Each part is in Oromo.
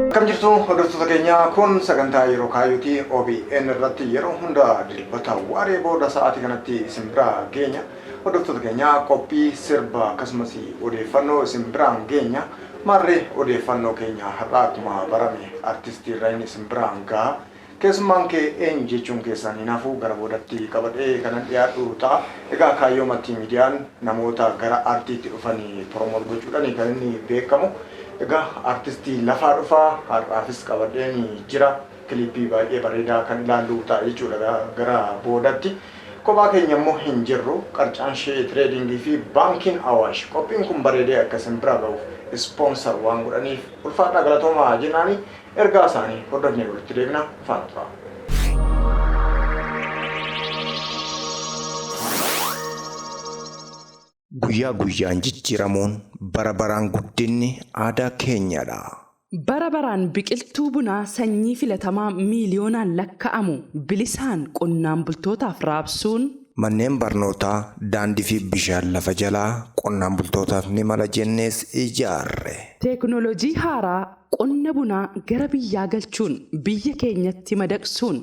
Akkam jirtu hordoftoota keenyaa kun sagantaa yeroo kaayuuti OBN irratti yeroo hunda dilbata waaree booda sa'aatii kanatti isin biraa geenya. Hordoftoota keenyaa qophii sirba akkasumas odeeffannoo isin biraan geenya. Maarree odeeffannoo keenya har'aa akkuma barame artistii Rayin isin biraan gaha. Keessummaan kee eenyu jechuun keessaan hin hafu, gara boodatti qabadhee kanan dhiyaadhu ta'a. Egaa kaayyoo Maltiimiidiyaan namoota gara aartiitti dhufan promote gochuudhani kan inni beekamu. Egaa aartistii lafaa dhufa har'aafis qabadheen jira. Kiliippii baay'ee bareedaa kan ilaallu ta'a jechuudha gara boodatti. Kophaa keenya immoo hin jirru. Qarcaan Shee Tireediingii fi Baankiin Awaash qophiin kun bareedee akka isin bira ga'uuf ispoonsar waan godhaniif ulfaadhaa galatoomaa jennaani. Ergaa isaanii hordofnee walitti deebina faana turaa. Guyyaa guyyaan jijjiiramuun bara baraan guddinni aadaa keenyadha. Bara baraan biqiltuu bunaa sanyii filatamaa miiliyoonaan lakka'amu bilisaan qonnaan bultootaaf raabsuun, Manneen barnootaa, daandii fi bishaan lafa jalaa qonnaan bultootaaf ni mala jennees ijaarre. Teeknooloojii haaraa Qonna bunaa gara biyyaa galchuun biyya keenyatti madaqsuun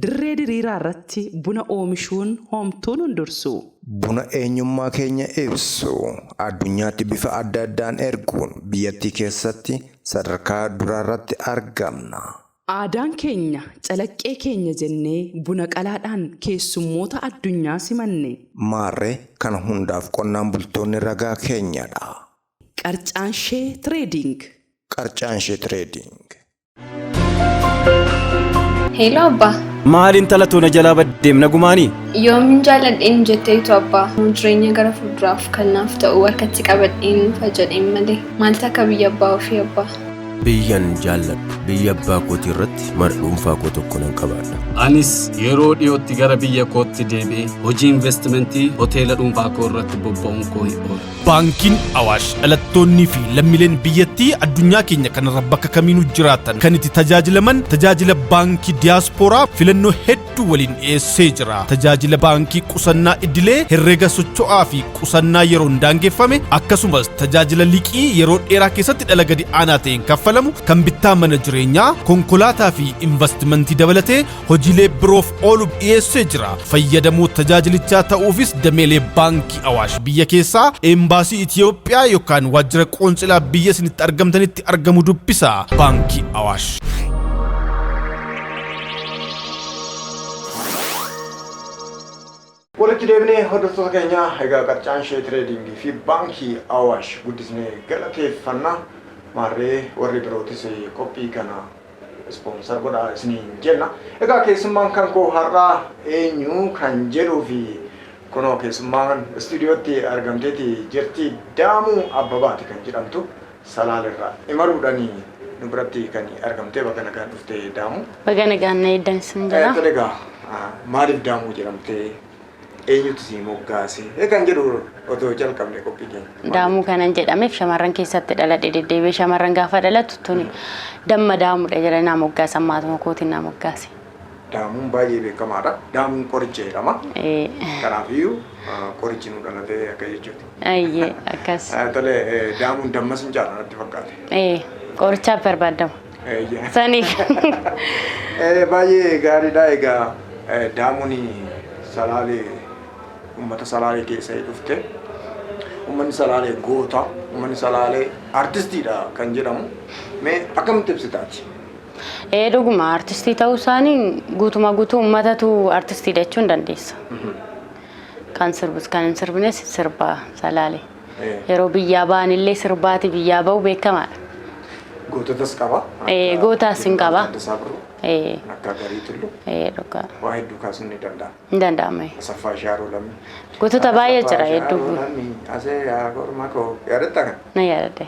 dirree diriiraa irratti buna oomishuun hoomtuu nun dursuu? Buna eenyummaa keenya ibsu addunyaatti bifa adda addaan erguun biyyattii keessatti sadarkaa duraa irratti argamna. Aadaan keenya calaqqee keenya jennee buna qalaadhaan keessummoota addunyaa simanne. Maarree kana hundaaf qonnaan bultoonni ragaa keenyadha. Qarcaanshee Trading. Qarcaanshee Trading. Heeloo abbaa. Maal intala too na jalaa baddeem nagumaanii? Yoomin jaalladheen jetteetu abbaa. Jireenya gara fuulduraaf kan naaf ta'u harkatti qabadheen nuufa jedheen malee. Maaltu akka biyya abbaa ofii abbaa. Biyyan jaalladhu biyya abbaa kootii irratti mana dhuunfaa koo tokko nan qabaadha. Anis yeroo dhiyootti gara biyya kootti deebi'ee hojii investimentii hoteela dhuunfaa koo irratti bobba'uun koo hin oolu. Baankiin Awaash dhalattoonnii fi lammileen biyyattii addunyaa keenya kanarra bakka kamiinuu jiraatan kan itti tajaajilaman tajaajila baankii diyaaspooraa filannoo hedduu waliin dhiyeessee jira. Tajaajila baankii qusannaa idilee herrega socho'aa fi qusannaa yeroon daangeffame akkasumas tajaajila liqii yeroo dheeraa keessatti dhala gadi aanaa ta'een kaffalamu kan bittaa mana jireenyaa, konkolaataa fi investimentii dabalatee hojiilee biroof ooluuf dhiyeessee jira. Fayyadamoo tajaajilichaa ta'uufis dameelee baankii Awaash biyya keessaa, eembaasii Itiyoophiyaa yookaan waajjira qoonsilaa biyya isinitti argamtanitti argamu dubbisa. Baankii Awaash. Walitti deebinee hordoftoota keenya egaa qarcaan ishee tireediingii fi baankii Awaash guddisnee galateeffanna maarree warri birootis qophii kana ispoonsar godhaa isiniin jenna. Egaa keessummaan kan koo har'aa eenyu kan jedhuu fi kunoo keessummaan istuudiyootti argamteeti jirti Daamuu Abbabaati kan jedhamtu. Salaan irraa imaluudhani nu biratti kan argamtee baga nagaan dhufte Daamu. Baga nagaan na eeddan sin jira. Tole egaa maaliif Daamuu jedhamtee eenyutu si moggaase kan jedhu otoo jalqabne qophii keenya. Daamuu kanan jedhameef shamarran keessatti dhaladhe deddeebi'ee shamarran gaafa dhalatu tuni damma daamudha jedhanii naa moggaasan maatuma kootiin naa moggaase. Daamuun baay'ee beekamaadha. Daamuun qoricha jedhama. Ee, Kanaafiyyuu ah, qorichi nu dhalate akka jechuuti. ayyee akkas. Ah, Tole, eh, daamuun dammas hin caalu natti fakkaate. Ee, qorichaaf barbaadama. Eeyyee. Saniif. Eh, Baay'ee gaariidha. Egaa eh, daamuun salaalee uummata salaalee keessa dhufte. Uummanni salaalee goota, uummanni salaalee artistiidha kan jedhamu. Mee akkamitti ibsitaati? Ee dhuguma artistii ta'uu isaanii guutumaa guutuu uummatatu artistiidha jechuun ni dandeessa. Kan sirbus kan hin sirbines sirba salaale. Ee. Yeroo biyyaa ba'an illee sirbaati biyyaa ba'u beekamaadha. Goototas qaba. Ee, akka gootaas hin qaba. Taaddasaa Birruu, Ee, akka Garii Tulluu ee dhugaa. waa hedduu kaasuun ni danda'ama. Hin danda'ama. Asaffaa Shaaroo Lammii. Gootota baay'ee jira hedduu. Shaaroo Lammii asee yaa korma koo. Yaadatta kan? Na yaadadhe.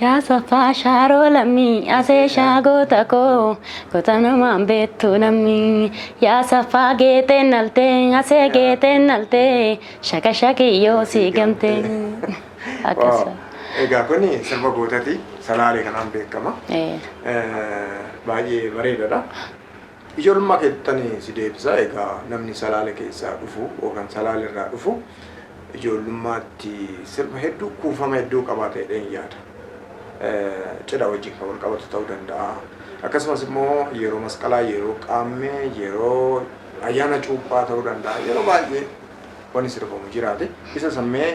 Yaa saffaa shaaroo lammii asee shaa goota koo goota namaan beektu lammii yaa saffaa geeteen naltee asee geeteen naltee shaka shakiyyoo sii gamtee. Akkas. Waaw. Egaa kun sirba gootati salaalee kanaan beekama. Ee. Eh, Baay'ee bareedadha. Ijoollummaa keettani si deebisa egaa namni salaale keessaa dhufu yookaan salaale irraa dhufu ijoollummaatti sirba hedduu kuufama hedduu qabaata jedheen yaada. Eh, Cidha wajjin kan wal qabatu ta'uu danda'a. Akkasumas immoo yeroo masqalaa, yeroo qaammee, yeroo ayyaana cuuphaa ta'uu danda'a. Yeroo baay'ee wani sirbamu jiraate isa san mee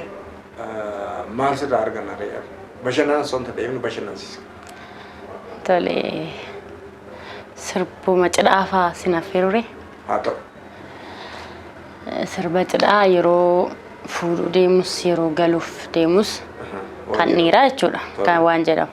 maal sirraa arganna ree ati bashannanan son ta deemnu bashannansiisa. Tole sirbuma cidhaa faa sin affeerure. Haa ta'u. Sirba cidhaa yeroo fuudhuu deemus yeroo galuuf deemus kan dhiiraa jechuudha kan waan jedhamu.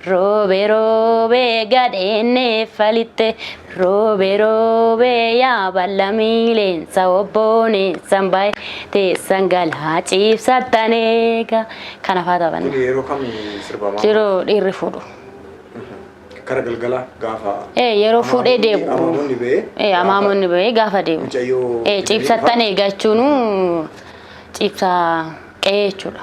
Roobe roobe gadheenne falitte roobe roobe yaa bal'amiileensa obbooneensan baye teessan galaa ciibsattan eega kana faa taphanna. Kun yeroo kam sirbamaa? Jiroo dhiirri fuudhu. Kara galgala gaafa. Ee yeroo fuudhee deebi'u. Amaamonni ba'ee. Ee amaamonni ba'ee gaafa deebi'u. Mucayyoo. Ee ciibsattan eega jechuun ciibsaa qe'ee jechuudha.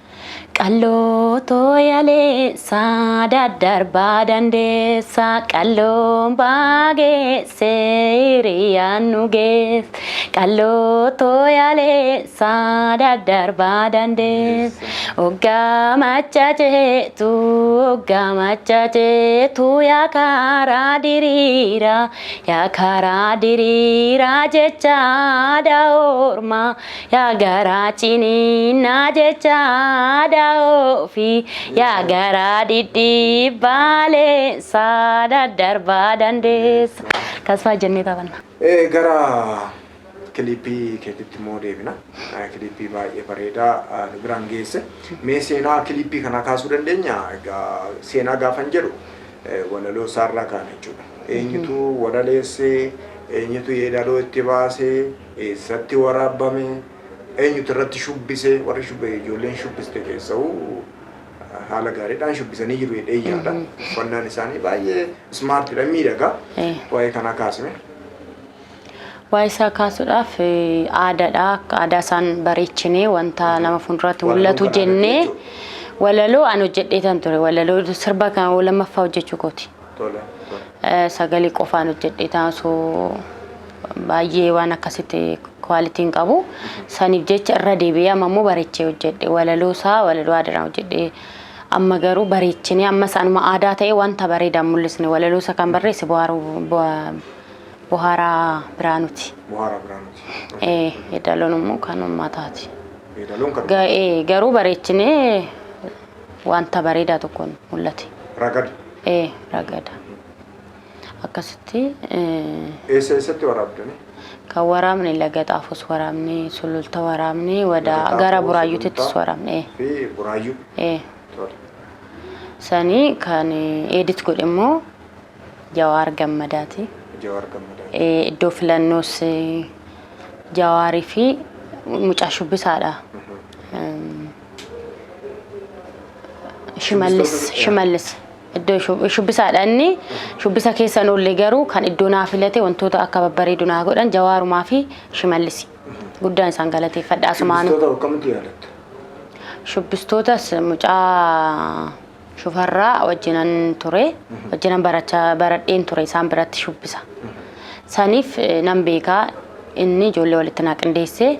Qalloo tooyaleessa daddarbaa dandeessa qalloon baageesse hiriyaan nu geesse qalloo tooyaleessa daddarbaa dandeessa oggaa machaceetu oggaa machaceetu yaa karaa diriiraa yaa karaa diriiraa jecha aadaa ormaa Yaa garaa ciniinnaa jecha aadaa ofii yaa garaa dhidhiibbaa leensaa daddarbaa dandeessa. Kasfaa jennee taphanna. Eh, gara kiliippii keetitti immoo deebina. Eh, Kiliippii baay'ee bareedaa ah, nu biraan geesse. Mee seenaa kiliippii kanaa kaasuu dandeenya? Egaa seenaa gaafan jedhu eh, walaloo isaarraa kaana jechuudha. Eenyutu walaleesse, eenyutu yeedaloo itti baase, Eessatti waraabbame? Eenyutu irratti shubbise? Warri ijoolleen shubbiste keessa'u haala gaariidhaan shubbisanii jiru jedhee yaada. Uffannaan isaanii baay'ee ismaartiidha, miidhaga. Waa'ee kanaa kaasime. Waa'ee isaa kaasuudhaaf aadaadha. Aadaa isaan bareechinee wanta nama fuulduratti mul'atu jennee walaloo an hojjedheetan ture. Walaloo sirba kan lammaffaa hojjechuu kooti. Tole tole. Sagalee qofaan hojjedheetaan osoo baay'ee waan akkasitti quality hin qabu. Saniif jecha irra deebi'ee amma immoo bareechee hojjedhe. Walaloo isaa walaloo aadaraan hojjedhe. Amma garuu bareechinee ammas anuma aadaa ta'ee wanta bareedaa hin mul'isne walaloo isa kan barreesse Buhaaruu Buha- Buhaaraa Biraanuuti. Buhaaraa Biraanuuti. Ee, Yeedaloon immoo kan uummataati. Yeedaloon kan Ga- ee, Garuu bareechinee wanta bareedaa tokko mul'ate. Ragada. Ee, ragada. Akkasitti. Eessa eessatti waraabdani? Kan waraabne laga xaafos waraabne, sululta waraabne, wadaa gara buraayyuutittis waraabne. Fi buraayyuu. Ee. Sanii kan edit godhe immoo Jawaar Gammadaati. Jawaar Gammadaati. Iddoo filannoos Jawaarii fi mucaa shubbisaadha. Shimallis Shimallis iddoo shub- shubbisaadha inni shubbisa keessa hin oolle garuu kan iddoo naa filate wantoota akka babbareedu naa godhan jawaarumaa fi shimallis guddaan isaan galateeffadha asumaanu Shubbistoota akkamitti yaadatta? shubbistoota mucaa Shufarraa wajjinan ture. Wajjinan barachaa baradheen ture isaan biratti shubbisa. Saniif eh, nan beekaa inni ijoollee walitti naa qindeessee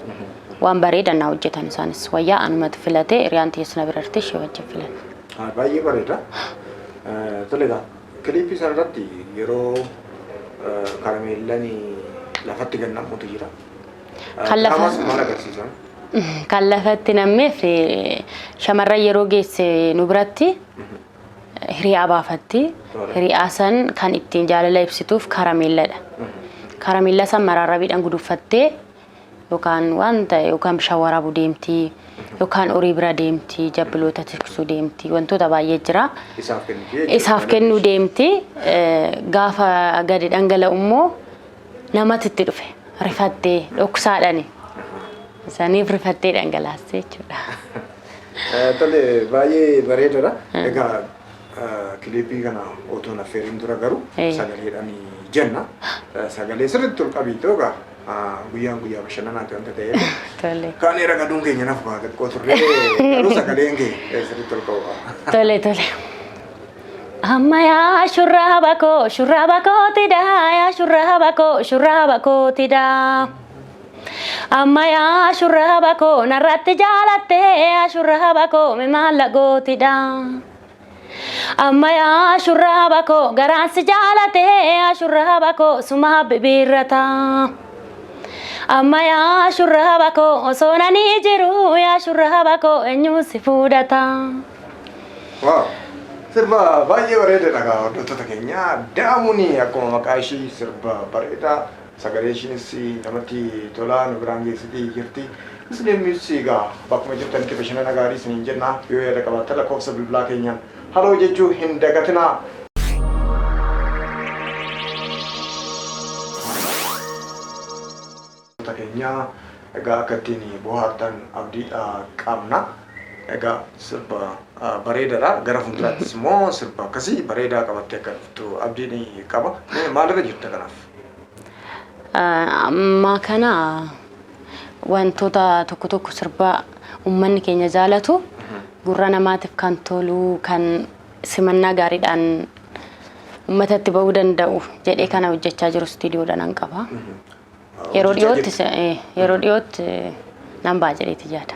waan bareeda naa hojjetan isaanis. Wayyaa anumatu filatee hiriyaan tiyya sina birartee ishee wajjin filanne. Ah, Baay'ee bareeda. Eh, Tole egaa kiliippii sana irratti yeroo eh, karameellan lafatti gannamuutu jira. Kan lafa- Diraamaa sun maal agarsiisa? kan lafatti nammeef eh, shamarran yeroo geesse nu biratti eh, hiriyaa baafatti. Tola. Hiriyaa san kan ittiin jaalala ibsituuf karameelladha. Karameellaa san maraarrabiidhaan guduffattee yookaan waan ta'e yookaan bishaan waraabuu deemtii yookaan horii bira deemtii jabbiloota tiksuu deemtii wantoota baay'ee jira. Isaaf kenniti jechuudha. Isaaf kennuu deemti. Eh, Gaafa gadi dhangala'u immoo namatti itti dhufe rifattee dhoksaadhani saniif rifattee dhangalaaste jechuudha. Tole baay'ee bareedadha. Egaa eh, kiliipii kana otoon affeeriin dura garuu Eh. sagaleedhaan jenna. Eh, Sagalee sirriitti ol qabiitoo egaa ah, guyyaan guyyaa bashannanaati wanta ta'eef. Tole. Kaanee ragaduun keenya naaf baate xiqqoo turre garuu sagaleen kee eh, sirriitti ol qabu qaba. Tole tole. Amma yaa shurraaba koo shurraaba kooti daa yaa shurraaba koo shurraaba kooti daa. Amma yaa shurraaba koo narratti jaalatte yaa shurraaba koo mi maalla gooti daa. Amma yaa shurraaba koo garaan si jaalate yaa shurraaba koo sumaa bibiirrata. Amma yaa shurraaba koo osoo nanii jiru yaa shurraaba koo eenyuun si fuudhata. Waaw! Sirba baay'ee bareedadha egaa hordoftoota keenya. Da'amuun akkuma maqaa ishii sirba bareeda. Sagalee ishiinis namatti tola nu biraan geessiti jirti. Isiniinis egaa bakkuma jirtanitti bashannana gaarii isiniin jenna. Yoo yaada qabaattan lakkoofsa bilbilaa keenyaan haloo jechuu hin dagatinaa. Daawwattoota keenya egaa akka ittiin bohaartan abdii qabna. Egaa sirba bareedadha. Gara fuulduraattis immoo sirba akkasii bareedaa qabattee akka dhuftu abdiin qaba. Mee maalirra jirta kanaaf? Ammaa kana wantoota tokko tokko sirba uummanni keenya jaalatu gurra namaatiif kan tolu kan simannaa gaariidhaan uummatatti ba'uu danda'u jedhee kana hojjechaa jiru istiidiyoodhaan qaba. Yeroo Hojjechaa dhiyootti jirti. se- eh, yeroo dhiyootti eh, nan ba'a jedheeti yaada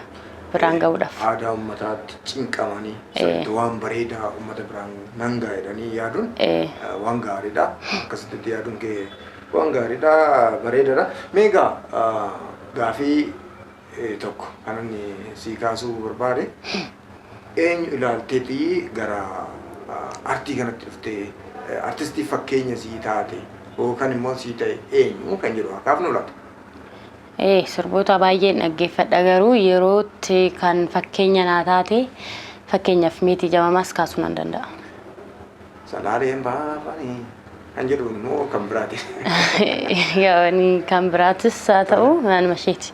biraan ga'uudhaaf. Aadaa uummataatti cinqamanii Eh. sirriitti waan bareedaa uummata biraan nan ga'a jedhanii yaaduun Eh. eh, waan gaariidha. Akkasitti yaaduun kee waan gaariidha, bareedaadha. Mee egaa ah, gaafii eh, tokko kan inni sii kaasuu barbaade Eenyu ilaalteeti gara artii kanatti dhufte? Artistii fakkeenya sii taate yookaan immoo sii ta'e eenyu kan jedhu haa kaafnu laata? Ee, sirboota baay'een dhaggeeffadha garuu yerootti kan fakkeenya naa taate fakkeenyaaf Meetii Jamamaas kaasuu nan danda'a. Salaaleen baafani kan jedhu immoo kan biraati. Yaa'anii kan biraatis haa ta'u naanuma isheeti.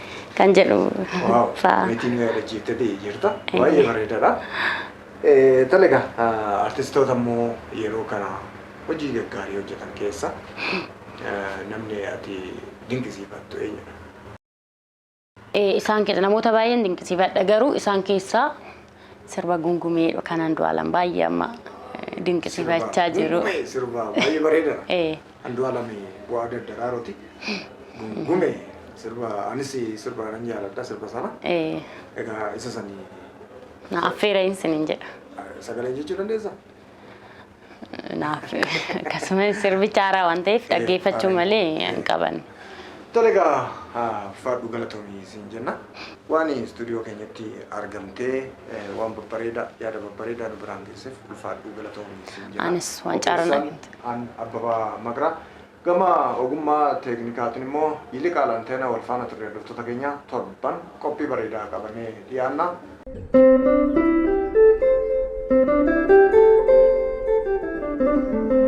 kan jedhu Waaw, fa'a. meetiin nu yaadachiifte ta'e jirta. Baay'ee bareedaadha. Eh, Tole egaa ah, artistoota immoo yeroo kana hojii gaggaarii hojjetan keessa eh, namni ati dinqisiifattu eenyudha? Eh, Isaan keessa namoota baay'een dinqisiifadha garuu isaan keessaa sirba gungumee kan Andu'aalam baay'ee amma eh, dinqisiifachaa jiru. Gungumee sirbaa baay'ee bareedaadha. Eh, Andualam bu'aa daddaraarooti. Gungume sirba anis sirba nan jaaladha sirba sana. Ee, Egaa isa sani na affeerayin sinin jedha. sagaleen jechuu dandeessa? Naaf akkasumas sirbicha haaraa waan ta'eef dhaggeeffachuu malee hin qaban. Tole egaa ah, faadhu galatoomii siin jenna. Waan istuudiyoo keenyatti argamtee eh, waan babbareedaa yaada babbareedaa nu biraan geesseef ulfaadhu galatoomii siin jenna. Anis waan carraa Qopheessaan- An Abbabaa Maqraa. Gama ogummaa teeknikaatiin immoo Yiliqaal Anteenaa wal faana turre hordoftoota keenya torban qophii bareedaa qabanee dhiyaanna.